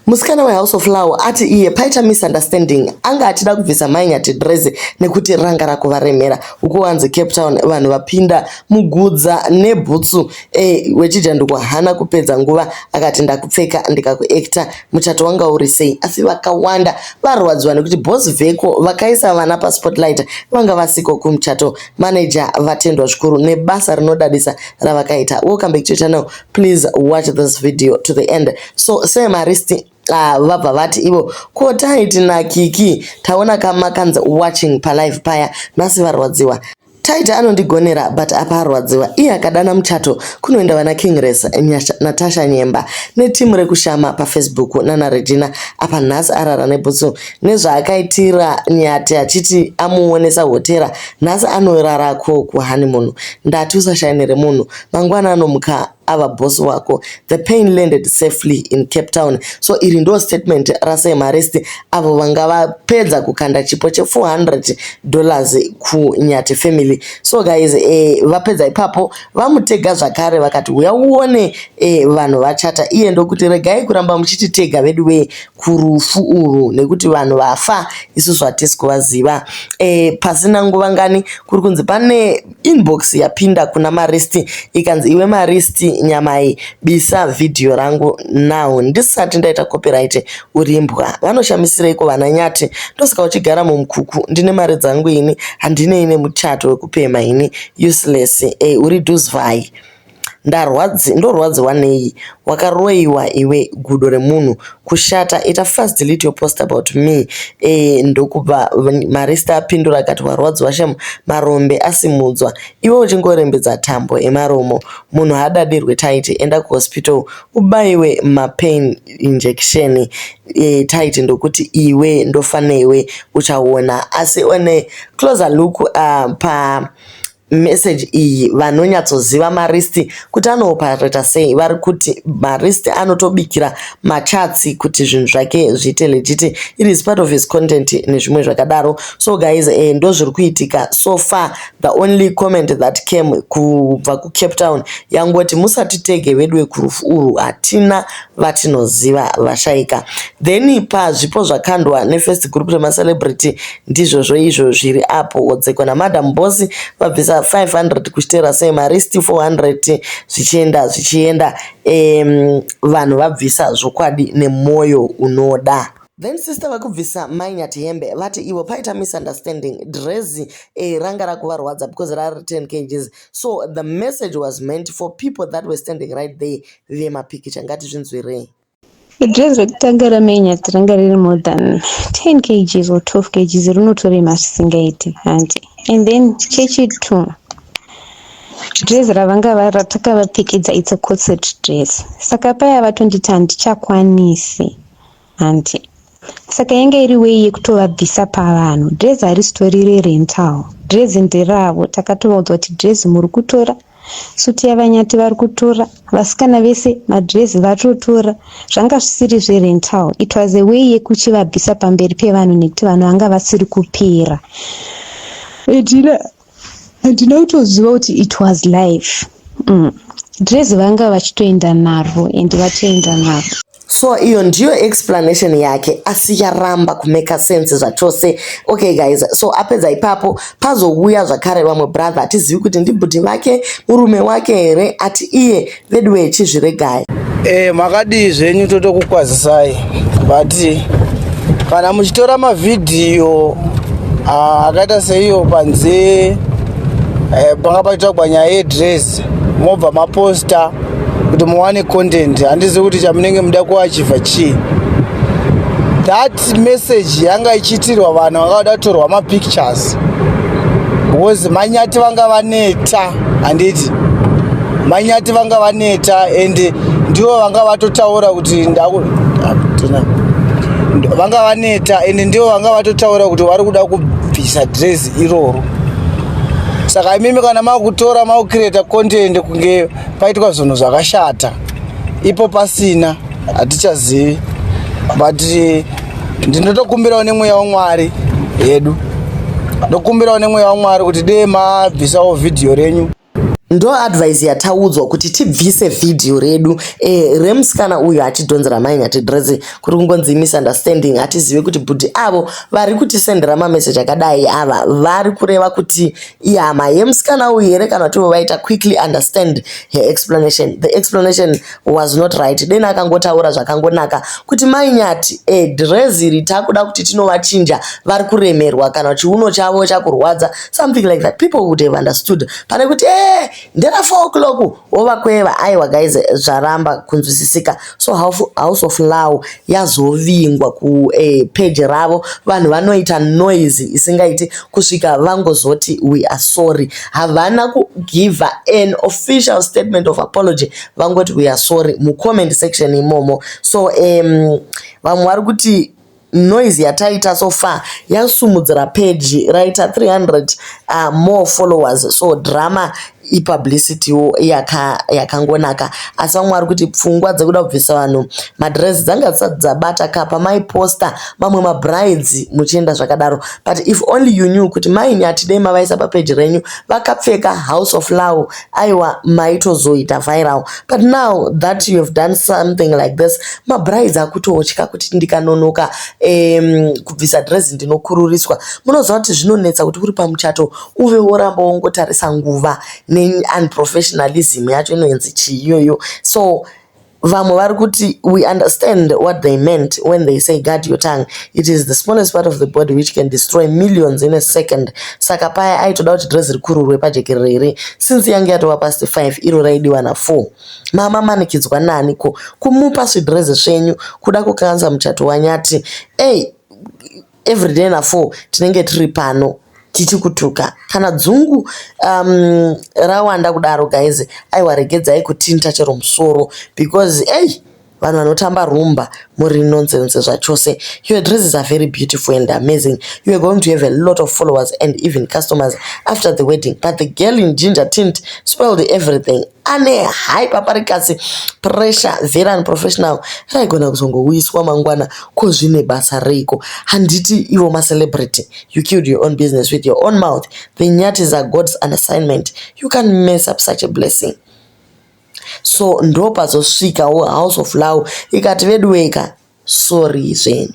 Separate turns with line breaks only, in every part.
Musikana weHouse of Flower ati iye paita misunderstanding anga achida kubvisa mai Nyatidreze nekuti ranga rakuvaremera. Uko wanzi Cape Town vanhu vapinda mugudza nebhutsu e, weChijanduko hana kupedza nguva akati ndakupfeka ndikakuekta muchato wanga uri sei. Asi vakawanda varwadziwa nekuti boss veko vakaisa vana paspotlight vanga vasiko kumuchato. Manager vatendwa zvikuru nebasa rinodadisa ravakaita. Welcome back to your channel. Please watch this video to the end. so semarist Ah, vabva vati ivo ko taiti nakiki taona kamakanzi watching palive paya nhasi varwadziwa taita anondigonera but apa arwadziwa iye akadana muchato kunoenda vana kingres natasha nyemba netimu rekushama pafacebook nana regina apa nhasi arara nebhutsu nezvaakaitira nyati achiti amuonesa hotera nhasi anorarako kuhani munhu ndati usashainire munhu mangwana anomuka ava boss wako. The pain landed safely in Cape Town so iri ndo statement raSam Harris avo vanga vapedza kukanda chipo che 400 dollars kuNyati family. So guys, eh, vapedza ipapo vamutega zvakare vakati huya uone eh, vanhu vachata iye ndokuti regai kuramba muchititega veduwe kurufu urwu nekuti vanhu vafa isusu hatisi kuvaziva. Eh, pasina nguva ngani kuri kunzi pane Inbox yapinda kuna Maristi ikanzi iwe Maristi nyamai bisa video rangu now ndisati ndaita copyright urimbwa vanoshamisireko vana nyati ndosaka uchigara mumkuku ndine mari dzangu ini handinei nemuchato wekupemha ini useless hey, eh, uri duzvai Ndarwadzi ndorwadziwa nei wakaroiwa iwe gudo remunhu kushata ita fast delete your post about me eh ndokupa marista apindura akati warwadziwa shem marombe asimudzwa iwe uchingorembedza tambo emaromo munhu haadadirwe taiti enda kuhospital ubaiwe mapain injection eh taiti ndokuti iwe ndofaneiwe uchaona asi one closer look uh, pa message iyi vanonyatsoziva maristi kuti anoopareta sei vari kuti maristi anotobikira machatsi kuti zvinhu zvake zviite legiti it is part of his content nezvimwe zvakadaro so guys eh, ndo zviri kuitika so far the only comment that came kubva kucape town yangoti musatitege vedu vekurufu urwu hatina vatinoziva vashaika then pazvipo zvakandwa nefirst group remacelebrity Ndizvozvo izvo zviri apo Wodzekwa naMadam Boss vabvisa 500 kuchitera sei mari sti 400 zvichienda zvichienda um vanhu vabvisa zvokwadi nemoyo unoda. Then sister vakubvisa mai Nyati hembe vati ivo paita misunderstanding drezi eh, ranga rakuvarwadza because rari 10 kgs so the message was meant for people that were standing right there vemapikicha ngatizvinzwirei. Dress
rekutanga ramenya ranga riri more than 10 kgs or 12 kgs rinotorema zvisingaiti hanti and then chechitu dress ravanga ratakavapfekedza it's a corset dress saka paya vatonditi handichakwanisi hanti Saka yanga iri way yekutovabvisa pavanhu. Dress harisitori rerental. Dress nderavo. Takatovaudzwa kuti dress muri kutora, suit yaVaNyati vari kutora, vasikana vese madress vatotora. Zvanga zvisiri zverental. It was a way yekuchivabvisa pamberi pevanhu nekuti vanhu vanga vasiri kupera. Edina ndinotoziva kuti it was life mm. dress vanga vachitoenda naro and vatoenda naro so iyo
ndiyo explanation yake asi yaramba kumeka sense zvachose okay guys so apedza ipapo pazouya zvakare vamwe brother hatizivi kuti ndibhudhi vake murume wake here ati iye veduwe chizviregai eh makadii
zvenyu totokukwazisai but kana muchitora mavhidhiyo ah, akaita seiyo panze eh, panga pachitagwa nyaya yedress mobva maposta kuti muwane content handizivi kuti chamunenge muda kuachiva chii that Text message yanga ichiitirwa vanhu vanga vada kutorwa mapictures because manyati vanga vaneta handiti manyati vanga vaneta and ndivo vanga vatotaura kuti vanga vaneta and ndivo vanga vatotaura kuti vari kuda kubvisa dress iroro saka imimi kana makutora makucreata content kunge paitwa zvinhu zvakashata ipo pasina hatichazivi but eh, ndinotokumbirawo nemweya wamwari yedu ndokumbirawo nemweya wamwari kuti dee mabvisawo vhidhiyo renyu ndo
advise yataudzwa kuti tibvise vhidhiyo redu e, remusikana uyu atidhonzera mai nyatidrese kuri kungonzi misunderstanding hatizive kuti bhudhi avo vari kutisendera mameseji akadai ava vari kureva kuti ihama yemusikana uyu here kana kuti vaita quickly understand her explanation the explanation was not right deni akangotaura zvakangonaka kuti mai nyati e drezi iri takuda kuti tinovachinja vari kuremerwa kana chiuno chavo chakurwadza something like that people would have understood pane kuti e ndera 4 o'clock wovakweva aiwa guys zvaramba kunzwisisika so house of law yazovingwa ku eh, page ravo vanhu vanoita noise isingaiti kusvika vangozoti we are sorry havana kugiva an official statement of apology vangoti we are sorry mucomment section imomo so um, vamwe vari kuti Noise yataita so far yasumudzira page raita 300 uh, more followers so drama ipublicity wo yaka yakangonaka asi vamwe vari kuti pfungwa dzekuda kubvisa vanhu madress dzanga dzisati dzabata ka pamaiposta mamwe mabrides muchienda zvakadaro but if only you knew kuti maini hatidei mavaisa papeji renyu vakapfeka house of law Aiwa maitozoita viral but now that you have done something like this mabrides akutotya kuti ndikanonoka um, kubvisa dress ndinokururiswa munoziva kuti zvinonetsa kuti uri pamuchato uve woramba wongotarisa nguva neunprofessionalism yacho inoenzi chii iyoyo so Vamwe vari kuti we understand what they meant when they say guard your tongue. It is the smallest part of the body which can destroy millions in a second. Saka paya aitoda kuti dress rikururwe pajekerere here since yange yatova past 5 iro raidiwa na 4. Mama manikidzwa nani ko kumupa zvidress zvenyu kuda kukanza muchato wanyati. Ey everyday na four tinenge tiri pano tichikutuka kana dzungu um, rawanda kudaro guys aiwa regedzai kutinta chero musoro because ei vanhu vanotamba rumba muri nonsense zvachose your dresses are very beautiful and amazing you are going to have a lot of followers and even customers after the wedding but the girl in ginger tint spoiled everything ane high paparikasi pressure very unprofessional raigona kuzongouyiswa mangwana Ko zvine basa reiko handiti ivo ma celebrity you killed your own business with your own mouth the nyati is a God's an assignment you can't mess up such a blessing so ndopazosvikawo house of love ikati veduweka sorry zvenyu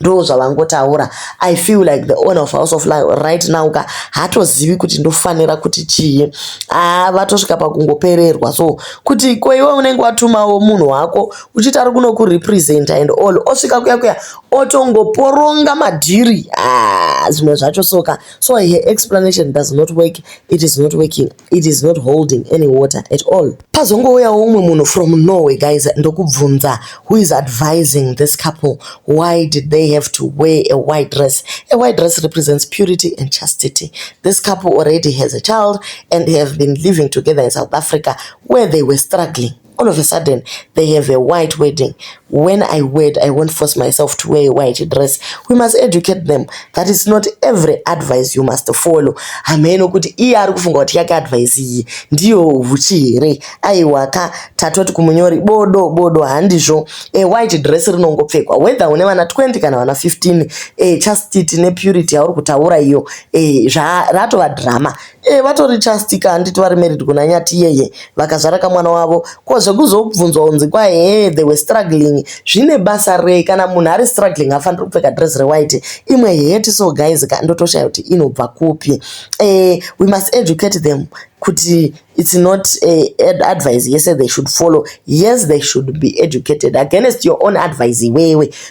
ndo zvavangotaura i feel like the owner of house of life right now ka hatozivi kuti ndofanira kuti chii haa ah, vatosvika pakungopererwa so kuti ko iwe unenge watumawo munhu wako uchiti ari kuno kurepresenta and all osvika kuya kuya otongoporonga madhiri ah, zvimwe ah, zvacho soka so her explanation does not work it is not working it is not holding any water at all pazongouyawo umwe munhu from norway guys ndokubvunza who is advising this couple why did they have to wear a white dress a white dress represents purity and chastity this couple already has a child and have been living together in south africa where they were struggling All of a sudden, they have a white wedding. When I wed, I won't force myself to wear a white dress. We must educate them that it's not every advice you must follow. Hameno kuti iye ari kufunga kuti yake advice iyi ndiyo huchi here? Aiwa ka tatoti kumunyori bodo bodo handizvo. A white dress rinongopfekwa whether une vana 20 kana vana 15. A chastity ne purity yauri kutaura iyo. A zva ratova drama. Eh vatori just ka handiti vari married kuna nyati yeye vakazvara kamwana wavo ko zvekuzobvunzwa unzi kwa hee they were struggling zvine basa rei kana munhu ari struggling afaniri kupfeka dress rewhite imwe heti so guys ka ndotoshaya kuti inobva kupi eh we must educate them kuti it's not a advice yese they should follow yes they should be educated against your own advice iwewe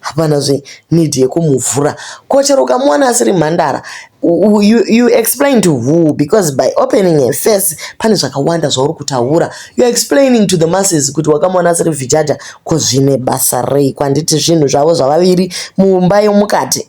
Hapana zve need yekumuvhura ko chero ukamuwana asiri mhandara you, you explain to who because by opening a face pane zvakawanda zvauri kutaura you're explaining to the masses kuti wakamona asiri vhijaja ko zvine basa rei kwanditi zvinhu zvavo zvavaviri mumba yomukati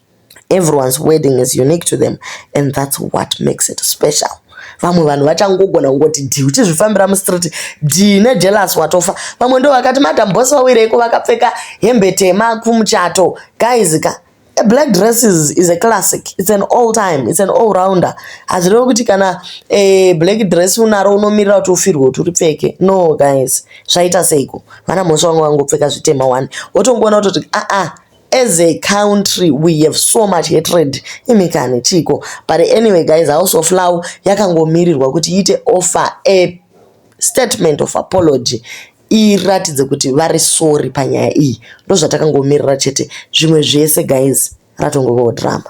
Everyone's wedding is unique to them and that's what makes it special. Vamwe vanhu vachangogona kungoti dhii uchizvifambira mustreet dhii nejealous watofa. Vamwe ndo vakati madam boss vawireiko vakapfeka hembe tema kumuchato. Guys ka a black dress is, is a classic it's an all time it's an all rounder hazvireve kuti kana eh, black dress unaro unomirira kuti ufirwe kuti uripfeke no guys zvaita seiko vana mhosva vanga vangopfeka zvitema one wotongoona kutoti aa ah, ah, as a country we have so much hatred imikani chiko but anyway guys house of law yakangomirirwa kuti iite offer a statement of apology iratidze kuti vari sorry panyaya iyi ndozvatakangomirira chete zvimwe zvese guys ratongovawo drama